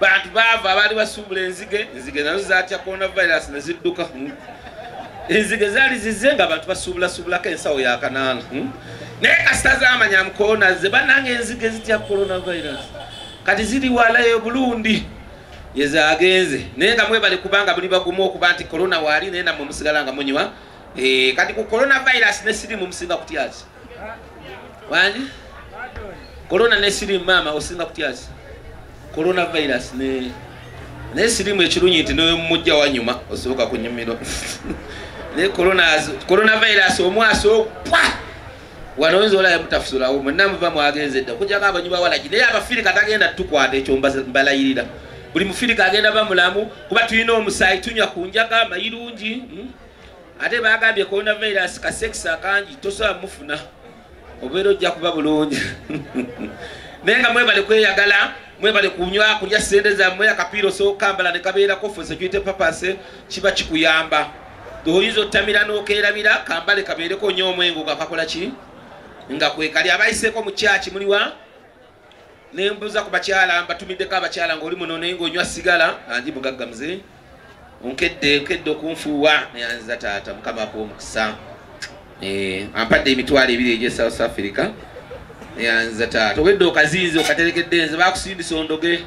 bantu baava abaali basuubula enzige enzige nazo zatya coronavirus ne zidduka hmm? enzige zaali zize nga abantu basuubulasuubulako ensawo ya kanaana hmm? naye kasita zamanya mukoona ze bananga enzige zitya coronavirus kati ziri walayo bulundi yezagenze naye nga mwebale kubanga buli bagumu okuba nti korona waali naye namwe musigala nga munywa eh, kati ku coronavirus ne sirimu musinga kutyazi wani corona ne sirimu maama osinga kutyaza corona virus ne naye sirimu ekirungi nti nomujja wanyuma osoboka kunyumiro naye corona virus omwasi okwa wano oyinza olaba mutafusulawo mwena muva mwagenze dda okujjako abanyuma walagi naye abafirika tagenda tukwata ekyo mbalayirira buli mufirika agenda bamulamu kuba tulina omusaayi tunywa ku njaga mayirungi hmm? ate bagambye coronavirus ka sex akangi tosobola mufuna obeera ojja kuba bulungi naye nga mwebale kweyagala mwebale kunywa kulya sente zamwe akapiira osobola okukambala ne kabeerako fo security papase kiba kikuyamba oyinza otamira nokerabira kambale kabeereko nyo omwengo gakakola ki nga kwekali abayiseko mu kyaki muliwa nembuuza ku bakyala mbatumiddeko abakyala nga oli muno naye ngaonywa sigala anji mugagga mze onkedde nkedde okunfuuwa neyanziza taata mukama akuwa omukisa eh, ampadde emitwalo ebiri egye south africa neyanziza taata obwedde okazinze okaterekedde nze bakusindisa ondoge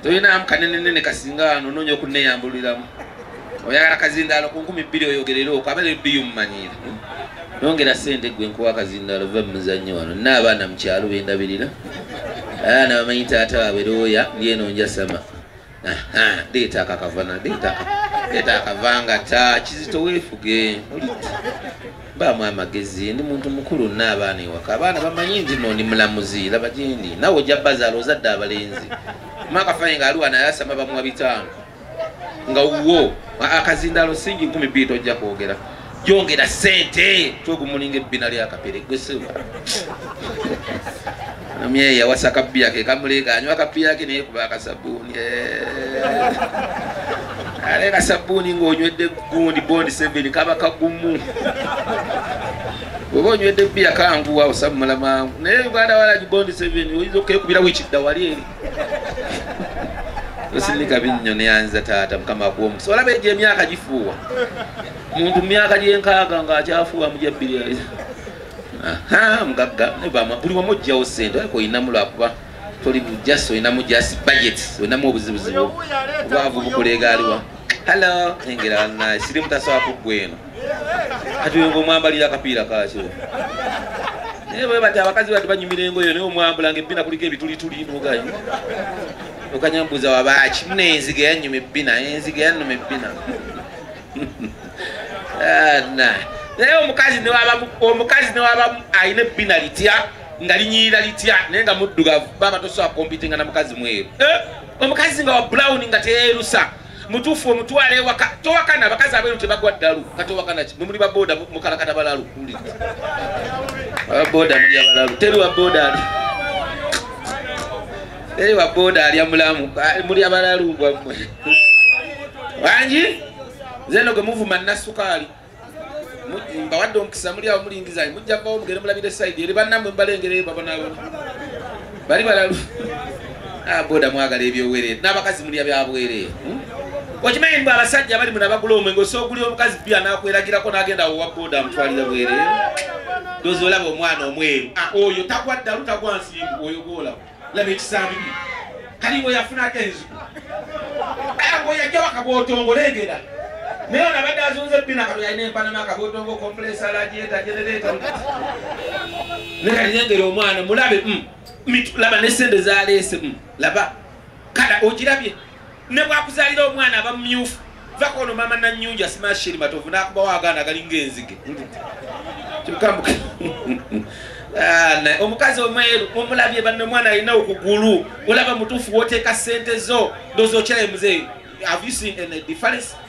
toyinamu kanenenene kasinga wano onoonya okuneyambuliramu oyagala kazindaalo ku nkumi bbiri oyogerere oko abala ebiyo mumanyiire nongera sente gwe nkuwa kazindaalo va mumuzannyo wano nina abaana mukyalo bendabirira abaana bamanyi taata waabwe looya ndi eno njasama leeta akakavana leeta leeta akavangata kizito weefuge oliti baamu amagezi ndi muntu mukulu nna abaana ewaka abaana bamanyi nti no ndi mulamuzi laba gyendi nawe ojja bazaala ozadde abalenzi mwakafaye nga aliwa naye asama bamuwa bitaano nga wuwo akazindalo singi nkumi bbiri tojja kwogera yongera sente kyogumulinga ebbina lyakapere gwesewa omye yawasa kapiya ke kamuleeka anywa kapiya ke naye kuba akasabuuni ale kasabuuni ngaonywedde gundi bondi seven kaba kagumu oba onywedde biya kanguwa osamula mangu naye uganda walagi bondi seven oyinza okekubira wikidda wali eri osindika binnyo neyanza taata mukama akuwa omusa olaba egyo emyaka gifuuwa muntu mumyaka gyenkaaga nga akyafuwa mujabbiri mugagga nebama buli wamu ojjawo sente ariko olinamu lwakuba toli just olinamu just budget olinamu obuzibuzibu obwavu bukulegaaliwa halo engera naye siri mutasobola kuggwa eno kati oyo ngaomwambalira akapiira kakyo naye bwe bati abakazi bati banyumira engoyo naye omwambula nga ebbina kuliko ebitulituli nogayo okanyambuza wabaaki muna enzige yanyuma ebbina enzige yanuma ebbina Eh, naye omukazi omukazi newaba alina ebbina litya nga linyirira litya naye nga muddugavu baba tosobola kompitinga na mukazi mweru eh, omukazi nga wa brown nga teyerusa mutuufu omutwala ewaka towakana abakazi aberu tebagwa ddalu katowakanaki mumuli baboda mukalakata balalu baboda muli abalalu teri waboda ali Naye wa boda alya mulamu muli abalalu bwammwe bangi zeno gwe muvuma nasukaali mbawadde omukisa muli awo mulingizayo mujja vawo mugere mulabire saidi eri bannamwe mubalengereyo babonabona bali balalu ah, boda mwagala ebyobwerere n'abakazi mulya byabwerere hmm? okimanyi mbu abasajja bali muna bagula omwenge osogulya omukazi bbi anakweragirako n'agenda wowa boda amutwalira bwerere dozi olaba omwana omweru ah, oyo tagwa ddalu tagwa nsimbu oyo gwolaba laba ekisambi kali bwe yafunako enziku ayango yajja bakabwotongo lengera naye ono abadde azunza ebbina kati yalina empanama akabwotongo komplesa lajeeta genereeta ne kati nengera omwana mulabe mm, laba ne sente zaleese mm, laba kala okirabye ne bwakuzalira omwana aba mumyufu vako ono mama nanyungi asima shiri matovu nakubawo agaana galinga enzige ah, omukazi omweru omulabye banne omwana alina okugulu olaba mutuufu woteeka sente zo ndozi okiraye muzeeyi have you seen any difference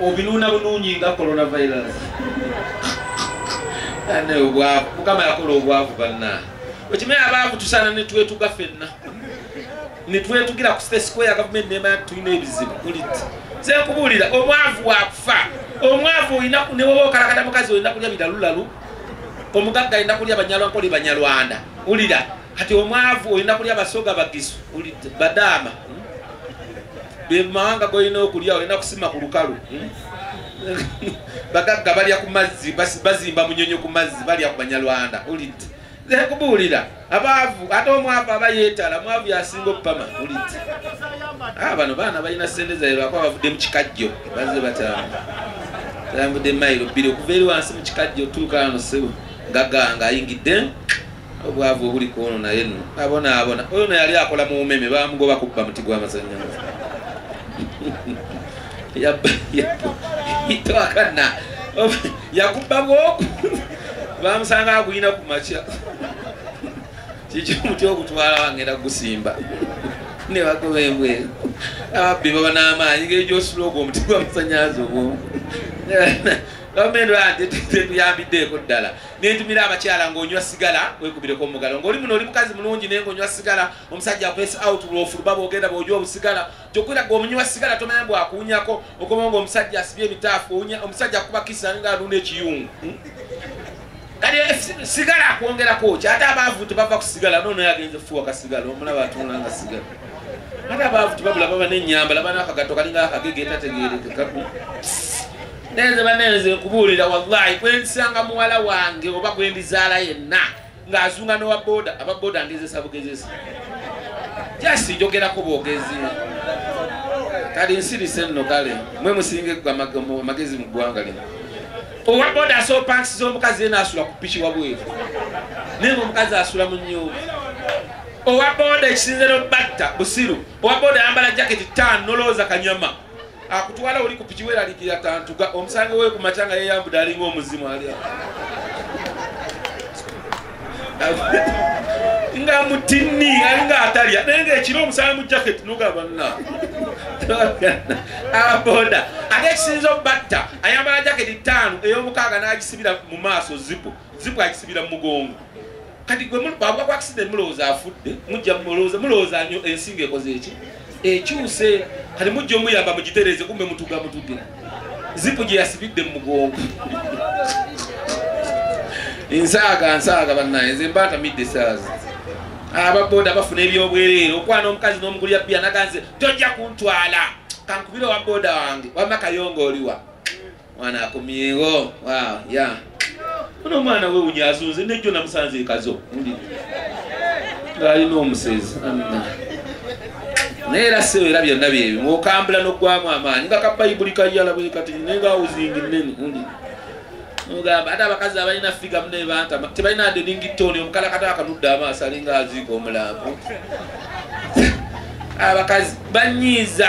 obinuuna bunungi nga coronavirus ane obwavu mukama yakola obwavu banna okimanyi abaavu tusaana netwetuga fenna netwetugira ku state square gavumenti nemaya tulina ebizibu kuliti nze nkubuulira omwavu wakufa omwavu olina newoba okalakata mukazi olina kulya biralulalu omugagga alina kulya banyalwankole banyalwanda wulira kati omwavu olina kulya basoga bagisu badaama bemawanga golina okulya olina kusima ku lukalu bagagga balya ku mazzi bazimba munyonyo ku mazzi balya ku banyalwanda ulidde nekubuulira abaavu ate omwavu aba yeetala mwavu yasinga okupama ulidde ah, bano baana balina sente zaebakuba bavudde mukikajjo bazze batamba tambudde mayiro bbiri okuva eri wansi mukikajjo otuuka ano sebo ngaganga ayingidde obwavu obuli ku ono naye no abonaabona oyo no yali akola mu umeme bamugoba kubba muti gw'amasanyalaze itwakana yakubba bwoku bamusanga aguyina ku makya kiki omuti ogutwala wangenda gusimba ne bagoba embweru ababbi baba n'amaanyi ngeri gyosula ogwo omuti gw'amasanyalaze obwomu gavumenti ate tetuyambiddeeko ddala nentumira abakyala ngaonywa sigala wekubireko omugalo ngaoli muno oli mukazi mulungi naye ngaonywa sigala omusajja akwesa out lwofuluba bwogenda bwojwa obusigala kyokwiraga omunywa sigala tomanya bwakuwunyako okoma nga omusajja asibye ebitaafu omusajja akuba kisa nga alunda ekiyungu hmm? kati eh, sigala akwongerako ki ate abaavu tebava ku sigala nono yagenze fuwa kasigala omulaba atunula nga sigala ate abaavu tebabula baba nenyambala bana akagato kalinga akagege tategerekekaku naye nze banaye nze nkubuulira wallahi kwensanga muwala wange oba gwendizaala yenna ng'azunga nowa boda aba boda ngezesa bugezesa jasi njogerako bwogezi kali nsirise nno kale mwe musinga eggwa amagezi mu ggwanga lino owa boda asoo pansi z'omukazi yena asula ku piki wabweru naye ngaomukazi asula mu nyumba owa boda ekisinze nobatta busiru owa boda ayambala jaketi tan nolowooza kanyama akutwala oli ku piki weralikira kantuga omusange we ku makya nga yeyambude alinga omuzimu ali nga mutinni alinga atalya naye nga ekiro omusange mu jacket nogabanna aboda ate ekisinza obatta ayambala jaketi ttaano ey'omukaaga n'agisibira mu maaso zipu zipu agisibira mu mugongo kati gwe bwabuka ku accident mulowooza afudde mujja mulowooza mulowooza nyo ensinga ekoze eki ekyuse kati mujja omuyamba mugitereeze kumbe mutuga mutugira zipu gye yasibidde mu mugongo nsaaga nsaaga bannaye nze mbaata midde saazi ababoda bafuna ebyobwereere okwana omukazi n'omugulira bya naganze tojja kuntwala kankubira owa boda wange wamma kayonga oliwa mwana akomyewo wow, yeah. ono omwana wewunya azunze nejjo namusanze ekazo ngaalina omusezi naye era sebo era byonna byebyo ngaokambula nokugwamu amaanyi nga kabayibuli kayala bwe kati naye nga uzingi nene undi ogamba ate abakazi abalina figa mune bantama tebalina ade ningitoni omukalakata akanudde amaaso alinga aziika omulambo abakazi banyiiza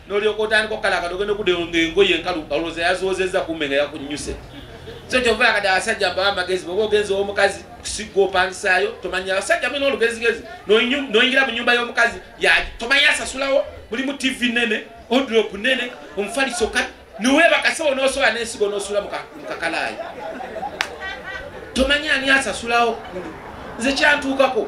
nolyoka otandika okukala akati ogenda okudeo ngaengoye enkalu olowooza yazoozezza kumbe nga yakunyuse so kyova akati abasajja mbawa amagezi bwoba ogenzi owomukazi kusigwa opangisaayo tomanya abasajja mulina olugezigezi noyingira mu nyumba y'omukazi tomanya asasulawo mulimu tivi nene odrop nene omufaliso ka niwebakasewo nosola nensigo nosula mukakalaayo tomanya ani asasulawo nze kyantuukako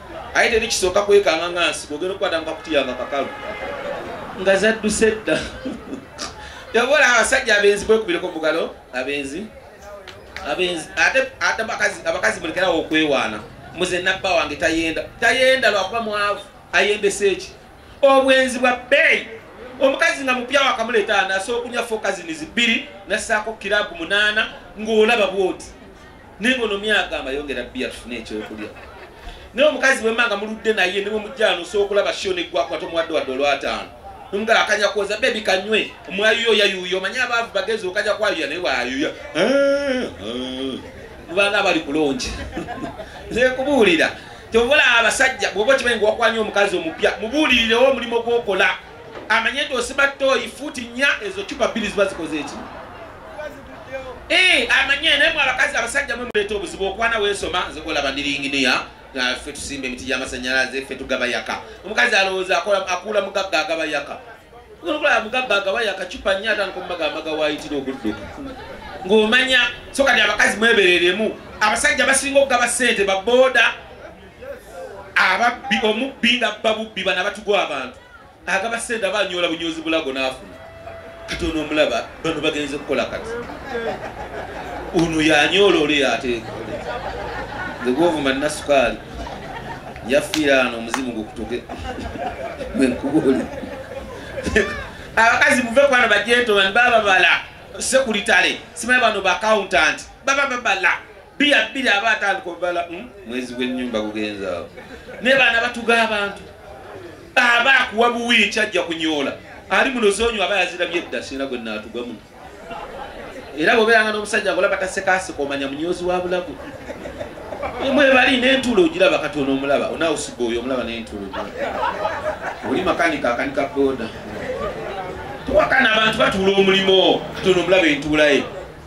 aye teri kisooka kwekanga nga nsigo ogenda okukwata nga kutiya nga kakalu nga zadduse dda tobola abasajja abenzi kwekubireko mugalo abenzi abenzi ate ate abakazi mulekerawo okwewaana muze nabba wange tayenda tayenda lwakuba mwavu ayendesa eki obwenzi bwa bbeeyi omukazi nga mupya wakamuleeta anasa okunya fokazinizi bbiri nasaako kirabu munaana ng'olaba bwoti naye nga onomi agamba yongera bbiya tufune ekyokulya naye omukazi bwemba nga muludde naye ne bwemujjano osobola okulaba shiyo neggwako ate omuwadde wadde olwataano nomugala akanya kwoza bebi kanywe omwayuya oyayuya omanye abaavu bagezi okanya kwayuya naye wayuya mubaana abali kulungi naye kubuulira tobula abasajja bwoba okimanyi nga wakwanya omukazi omupya mubuulirirewo omulimu gwokola amanye nti osiba tooyi fuuti nnya ezo cupa bbiri ziba zikoze eki eh, amanye naye mwe abakazi abasajja mwe muleeta obuzibu okwana weesoma nze kolaba ndi linginiya ffe tusimba emiti gy'amasannyalaze ffe tugaba yaka omukazi alowooza akuula mugagga agaba yaka okulaba mugagga agaba yaka cupa nnya atandika omumaga amaga waayitira okudduka ng'omanya so kati abakazi mwebereremu abasajja basinga okugaba ssente babooda ababbi omubbi nabba bubbi bana batugwa abantu agaba sente aba anyoola bunyoozi bulago n'afuna kati ono omulaba bano bagenze kukola kati ono yanyoola oli yateeka zegwovuma nasukaali yafiira ano omuzimu gukutuke mwenkubuuli abakazi muve kwano bajentoman bababala sekulitale simanyi bano bakauntanti babababala biya biri aba atandika obala hmm? mwezi gwenyumba gugenzaawo naye baana batuga abantu aba akuwa buwi kyajja kunyoola ali muno zonyo aba yazirabye dda singa gwe natuga muno era bwobeeranga n'omusajja ngolaba tasekasika omanya munyozi wa bulago mwebali nentulo ogiraba kati ono omulaba onawusiga oyo omulaba nentulo oli makanika akanika boda towakana abantu batuula omulimu kati ono omulaba entulaye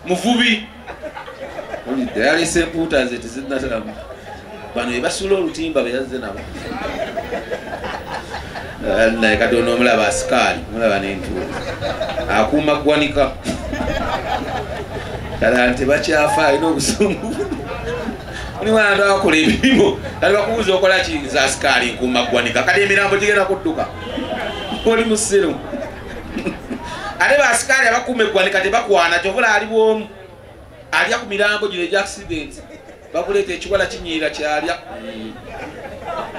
muvubi ulidde yalese empuuta ze tezinatalamu bano ebasula olutimba beyazze nabo naye kati ono omulaba asikaali omulaba nentuula akuuma ggwanika kala nti bakyafa alina obusungu mulimu abantu abakola ebirimu kati bakubuuza okola ki za asikaali nkuuma ggwanika kati emirambo gigenda kudduka oli musiru ate basikaali abakuuma eggwanika tebakwana kyovula ali bwomu alya ku mirambo gino egya accident bakuleeta ekiwala kinyiira kyalya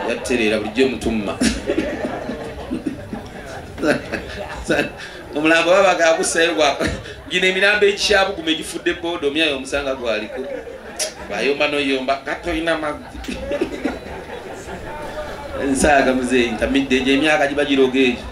yatereera bulijjo mutumma omulambo babaga agusayo gino emirambo ekikyabuguma egifudde booda omyayo omusanga gwaliko bayomba noyomba katolina mazzi nsaaga muzeeyi ntamidde egyo emyaka giba giroga egyo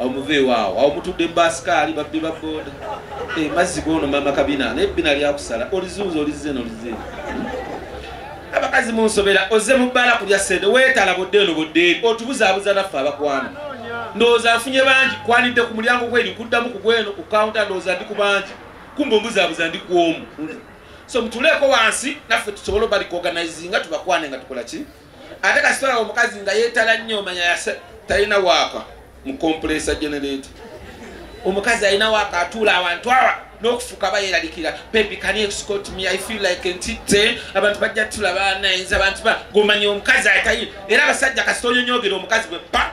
awo muveewo awo awo mutudde mu baasikaali babbi ba booda eh, mazzi goono mama kabina naye bina lyakusala olizunza olizze nolizze abakazi munsobera ozze mu bbaala kulya sente weetala bodde eno bodde eri otubuzaabuza naffe abakwana ndowooza nfunye bangi kwanidde ku mulyango gweri kuddamu ku gweno ku kawunta ndowooza ndi ku bangi kumba ombuzaabuza ndi ku omu so mutuleeko wansi naffe tusobole obalikoganizinga tubakwane nga tukola ki ate kasitolawo omukazi nga yetala nnyo omanya talina waaka mu kompulensa genereeta omukazi alina waaka atuula awantu awa n'okufuka aba yeralikira bebi kani excot me i feel like ntite abantu bajja tulaba nainza abantu ba gomanya omukazi atayi era abasajja kasita onyonyogera omukazi bwe pa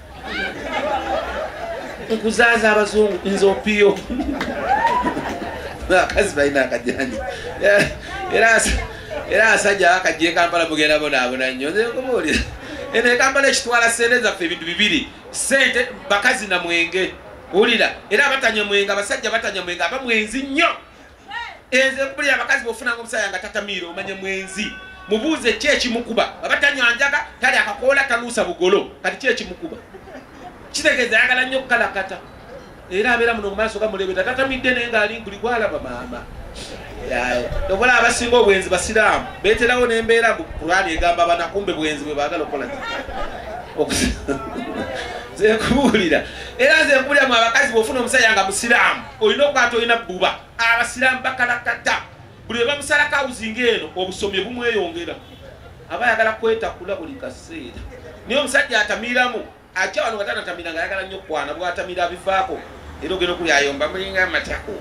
nkuzaaza abazungu nze opiyo akazi balina akajanja eh, era era asajja akajja ekampala mugenda bonaabona nnyo nzekumuwulira eno ekampala ekitwala sente zaffe ebintu bibiri sente bakazi na mwenge wulira era abatanya mwenge abasajja batanya mwenge aba mwenzi nnyo enze buli abakazi bofuna ngo musaya nga tatamiro omanye mwenzi mubuze kye kimukuba abatanyo anjaga tali akakola talusa bugolo kati kye kimukuba kitegeza yagala nyo kala kata era abera muno maso ga mulebe tatamide ne nga ali nguli kwala ba mama yae dokola abasingo bwenzi basilamu betelawo ne mbera bu kurani egamba bana kumbe bwenzi bwe bagala okola okusa ze kubulira era ze kubulira mu abakazi bofuna omusaya nga musilamu olina okuba tolina bbuba abasiraamu bakalakata buli lwe bamusala kawuzinga eno obusomye bumweyongera aba ayagala kwetakula buli kaseera naye omusajja atamiiramu aja wano watanatamira nga ayagala nnyo kwana bwatamira abivaako era ogenda okuyayomba mulinga amatako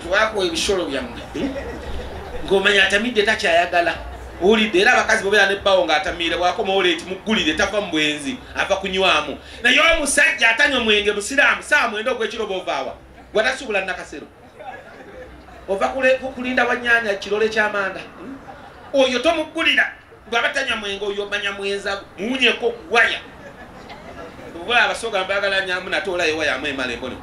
twako ebisolo byammwe eh? ng'omanya atamidde takyayagala owulidde era abakazi bobeera ne bbawo ng'atamiira bwakoma oleeti muggulire tava mu bwenzi ava kunywamu Naye omusajja atanywa mwenge musiraamu saa mwenda ogw'ekiro oba ova wa? Gwe atasuubula Nakasero? Ova kulinda wanyanya kirole ky'amanda? Hmm? Oyo tomuggulira bw'aba tanywa mwenge oyo manya mwenza muwunyeko waya. Oba abasoga mbaagala nyamu natoolayo waya amu emala emboneko.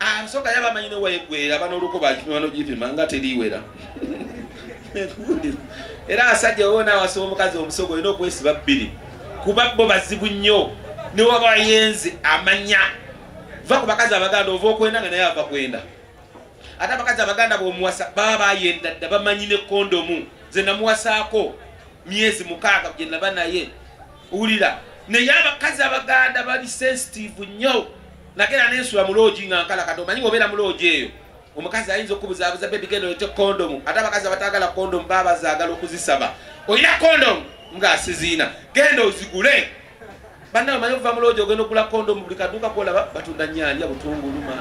ansoka yaba manyi newegwera banoluko bakimano gipima nga teriwera era asajja wewe nawasa omukazi omusogo olina okwesiba bbiri kuba bo bazibu nnyo newaba yenzi amanya va ku bakazi abaganda ova okwenda nga naye ava kwenda ate abakazi abaganda bomuwasa baba bayenda dda bamanyi ne kondomu ze namuwasaako myezi mukaaga gyenaba naye Wulira naye abakazi abaganda bali sensitive nnyo nagera nensula mu loogi nga nkala kati omanyi obeera mu loogi eyo omukazi ayinza okubuzaabuza bebi genda olete kondomu ate abakazi abatagala kondomu baba zaagala okuzisaba olina kondomu nga asiziina genda ozigule bannawe manyi okuva mu loogi ogenda okugula kondomu buli kaduuka kolaba batunda nyanja butungulu ma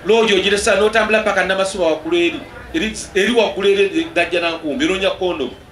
loogi ogiresa n'otambula paka namasuba waggulu eri eri waggulu eri gajja nankumbi onoonya kondomu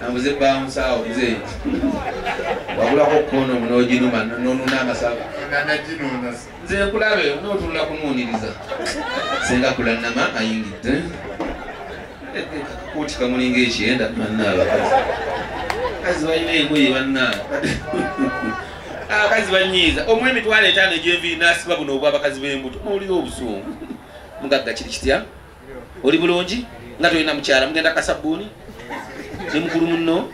namuze bamusaawo muzeeyi wabulako kono munoginuma nonuna amasago nze nkulabe notunula kunuuniriza senga kulanama ayingidde kuti kamulinga ekyenda banaabakazi kazi balina engoye banaaba abakazi banyiiza omu emitwalo etaano egyenvii nasiba buno obwabakazi b'embuto nowulira obusungu mugagga kiri kitya oli bulungi nga tolina mukyala mugenda kasabbuuni ne mukulu munno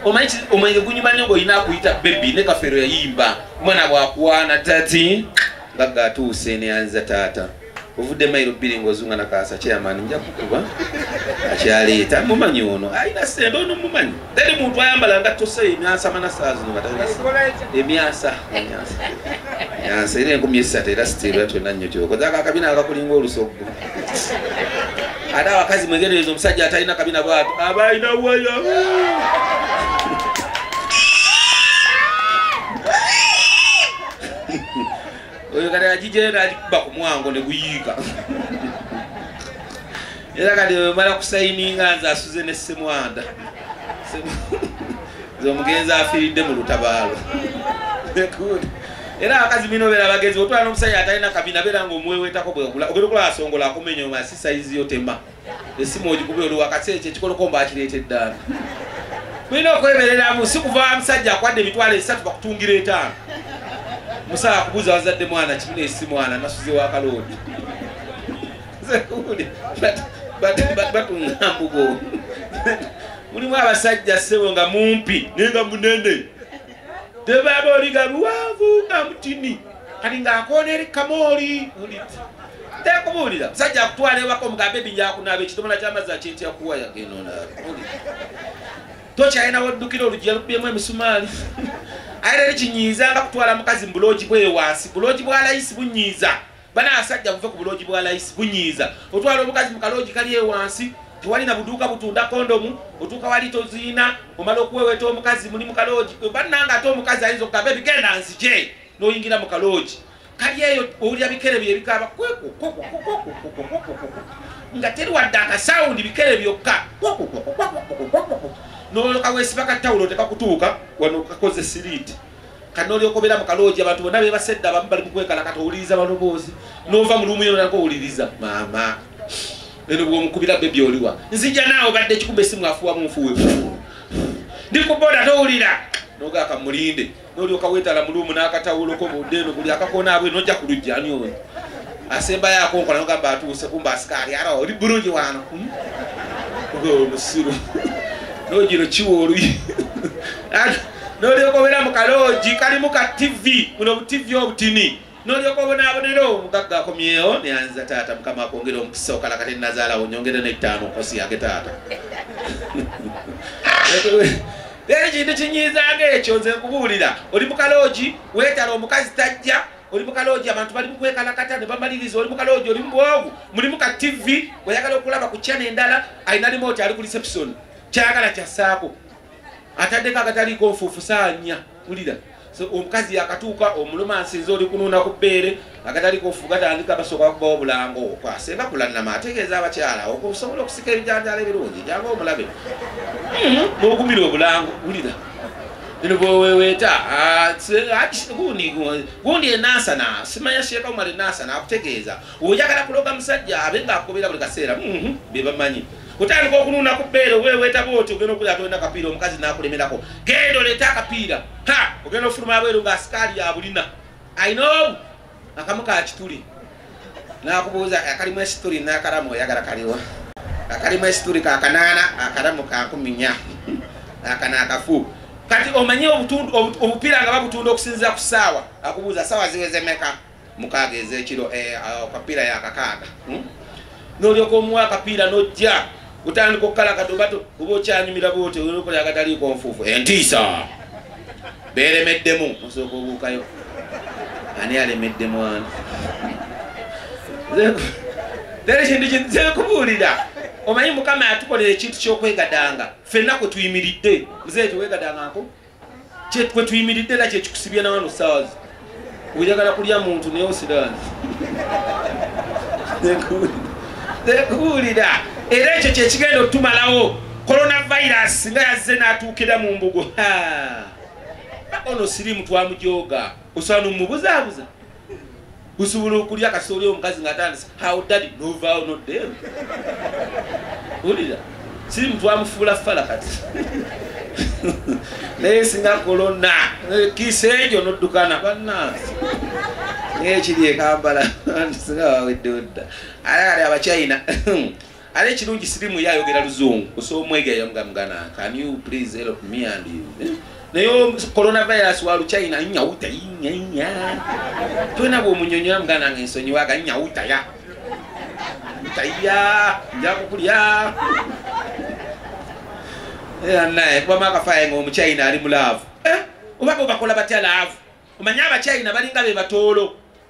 omanyi omwenge gunyuma nnyo ngaolina akuyita bebi ne kafeero yayimba omwana bwakwana tati nga gatuuse neyanza taata ovudde mairo bbiri ngaozunga nakaasa kyeyamaani nja kukuba akyaleeta mumanyi ono alina sente ono mumanyi teri muntu ayambala nga tose emyasa manasaazinoemyasa emyasa era enkumi esatu era sitera tyona nnyo kyokozako akabina akakulinga olusoggo ate abakazi mwegerereza omusajja atalina kabina bwato abalina wayo oyo kati ajijena alikuba ku mwango neguyiika era kati wemala kusayininga nze asuze ne semwanda nze omugenzi afiiridde mu lutabaalo era abakazi bino beera bagezi otwala nomusajja atalina kabina beera nga omuwewetako bwegula ogera okula asongola akumenya oma si sayizi yo tema esimu ogikuba oli wakati ekyo ekikolokomba akireeta eddaala mulina okwebereramu si kuva musajja akwadde emitwalo esatu bakutungira etaano musaala kubuuza wazadde mwana kimu nesi mwana nasuze wakaloodi batungambug mulimu abasajja sebo nga mumpi naye nga munene tebaba oliga luwanvu nga mutini kati ngaakoona eri kamooli tekubuulira musajja akutwala ewako mugambe binyakunaaba ekitomola kyamazzi akyentya kuwa yagenona tokyalinawo oddukira oluggi yalukubyemu emisumaali aye lero kinyiiza nga kutwala mukazi mu buloogi bwewansi buloogi bwa layisi bunyiiza Bana abasajja muve ku buloogi bwa layisi bunyiiza. Otwala omukazi mu kaloogi kali eyo wansi, tewali na buduuka butunda kondomu, otuuka wali toziyina, omala okuweweeta omukazi muli mu kaloogi. Bannange ate omukazi ayinza okugamba ebigenda nzije n'oyingira mu kaloogi. Kali eyo owulira bikere bye bikaaba nga teri wadde akasawundi bikere byokka noloka wesiba katawulo tekakutuuka wano kakoze siriiti. kanolyokobera mukalooji abantu bonna bebasedda abamu bali mukwekalakata owuliriza baloboozi nova mulumu yonako owuliriza maama eno bwomukubira bebi oliwa nzija naawe badde kikuba esimu afuwa munfuwe ndikuboda towulira nogaka mulinde nolyoka wetala mulumu nakatawuloko budeno buli akakona abwe noja kulujja ani oyo asembayo akonkola nogamba atuuse kumba asikaali ara oli bulungi wano hmm? omusiru nojiro kiwa oluyi nolyoka obeera mu kaloogi kalimu ka tivi buno butivi obutini nolyoka obonaabonera omugagga akomyewo neyanza taata mukama akwongera omukisa okala kati nazaalawo nyongere nettaano okosi yage taata era ekintu kinyiizanga ekyo nze nkubuulira oli mu kaloogi weetala omukazi tajja oli mukaloogi abantu bali mukwekalakata nebamaliriza oli mukaloogi oli mubwogu mulimu ka tivi oyagala okulaba ku chana endala alina limooti ali ku reception kyagala kyasaako ataddeko agataliiko nfuufu saanya wulira omukazi yakatuuka omuluma nsinze oli kunuuna ku bbeere agataliiko nfuufu gatandika basooka kubawo obulango okwase nga kulannama ategeeza abakyala okusobola okusika ebijanjala ebirungi janga omulabe bogumira mm-hmm. obulango wulira ino bweweweeta ah, gundi enasana simanya sheeka umar enasana akutegeeza oyagala kuloga musajja abe ngaakubira buli kaseera mm-hmm. bebamanyi Otandika okununa ku bbeere weeweeta bwoti ogenda okulira tolina kapiira omukazi n'akulemerako genda oleete akapiira ha ogenda ofuluma abweru nga asikaali yabulina alina obu akamu ka kituli n'akubuuza akalimu ekituli n'akalamu oyagala kaliwa akalimu ekituli ka kanaana akalamu ka nkumi nnya akana akafu kati omanye obupiira nga babutunda okusinziira ku ssaawa akubuuza ssaawa ziweze meka mukaaga ezekiro eh, akapiira yakakaaga hmm? nolyoka omuwa akapiira nojja utandika okukalakata oba oba okyanyumira bwoti olyokola agataliiko nfuufu entiisa beremeddemu osooka obuukayo ani alemeddemu ani era ekintu kyekubuulira omanyi mukama yatukolera ekintu kyokwegadanga fenna kwetuyimiridde muzeetewegadangako kyetwetuyimiridde era kyekikusibye nawano saazi oyagala kulya muntu naye osiraani nekuwulira era ekyo kyekigenda otumalawo coronavirus nga yazze natuukira mu mbugo ono sirimu twamujooga osanu mubuzaabuza usobola okulya kasi oli omukazi nga atandisa how dadi novaawo noddemu wulira siri muntu amufuula fala kati naye singa kolona kiisa egyo noddukana banansi naye kiri ekambala singa waweddeodda ale ali abachina Are chirungi sirimu ya yogera luzungu kuso mwega ya mga mgana can you please help me and you eh? na yo corona virus wa China nya uta nya nya twena bo munyonyo ya mgana ngiso nyi waga nya uta ya uta ya ya kukulia ya eh, nae kwa maka faye ngo mu China ali mu love eh ubago bakola batya love umanyaba China balinga be batolo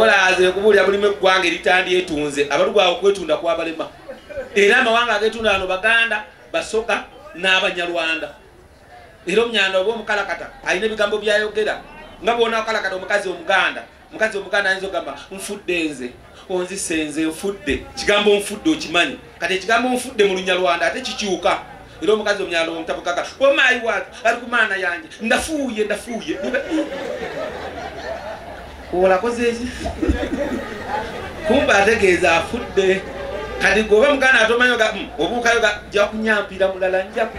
olaaze okubuulira mulimu eggwanga eritandyetunze abalugwawo okwetunda kwabalema era amawanga agetunda ano baganda basoka n'abanyarwanda era omnyanda oba omukalakata alina ebigambo byayogera nga bwona okalakata omukazi omuganda mukazi omuganda ayinza ogamba nfudde nze onzise nze nfudde kigambo nfudde okimanyi kati ekigambo nfudde mu lunyarwanda ate kikyuka era omukazi omyalo omutabukaka omaayi oh wange ali ku maana yange ndafuuye ndafuuye olakoze eki kumba ategeeza afudde kati gweoba muganda atomanyi oga hmm, obuukayo ga jakunyampira mulala njaku